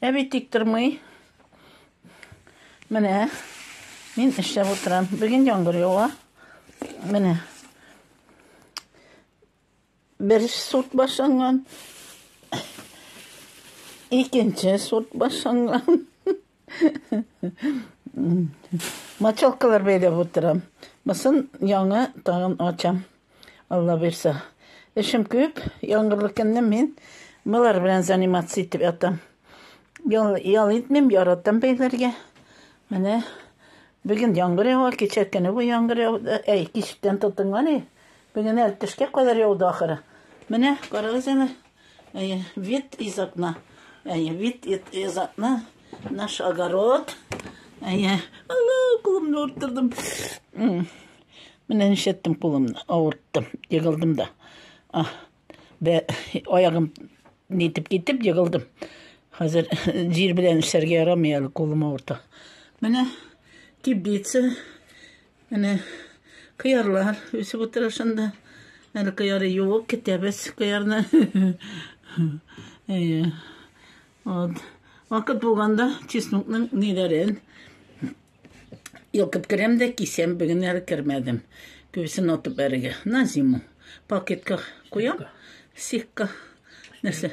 Әби тик тормый. Менә мин эшләп утырам. Бүген яңгыр ява. Менә. Бер сорт башланган. Икенче сорт башланган. Мочалкалар бәйләп утырам. Мосын яңа тагын ачам. Алла бирсә. Эшем күп. Яңгырлы көнне мин мылар белән заниматься итеп ятам. Ял, ял итмим, яратам бәйләргә. Менә бүген яңгыр ява, кичә көне бу яңгыр яуды. Әй, кичтән тотынган и. Бүген әле төшкә кадәр яуды ахыры. Менә карагыз әле. Әйе, вид из окна. Әйе, вид из окна. Наш огород. Әйе, ана, кулымны ауырттырдым. Менә нишләттем кулымны, ауырттым, егылдым да. Ах, бә, аягым нитеп китеп егылдым. Хәзер җир белән эшләргә ярамый әле, кулым авырта. Менә теплица. Менә кыярлар үсеп утыра шунда. Әле кыяры юк, китәбез кыярны. Әйе. Вот. Вакыт булганда чеснокның ниләрен йолкып керәм дә кисәм, бүген әле кермәдем. Күбесен атып бәрегә. На зиму. Пакетка куям. Сикка. Нәрсә?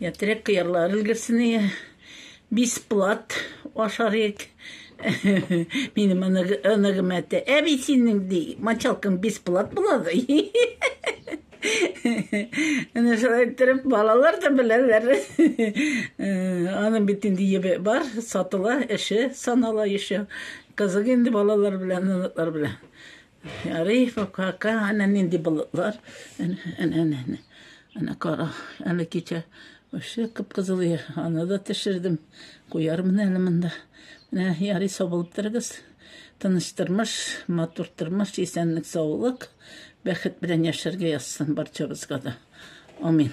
Я терек кыярлар өлгерсен ие. Бисплат ашарык. Минем оныгым әтә. Әби синең ди, мочалкаң бисплат булады. Әнә шулай иттереп балалар да беләләр. Аның бит инде ебе бар, сатыла, эше санала еще. Кызык инде балалар белән, оныклар белән. Рифов кака, әнә нинди болытлар. Әнә, әнә, әнә. Әнә кара, әле кичә вообще кып-кызыл иде. Аны да төшердем. Куярмын әле монда. Менә ярый сабылып торыгыз. Тыныч тормыш, матур тормыш, исәнлек, саулык, бәхет белән яшәргә язсын барчабызга да. Амин.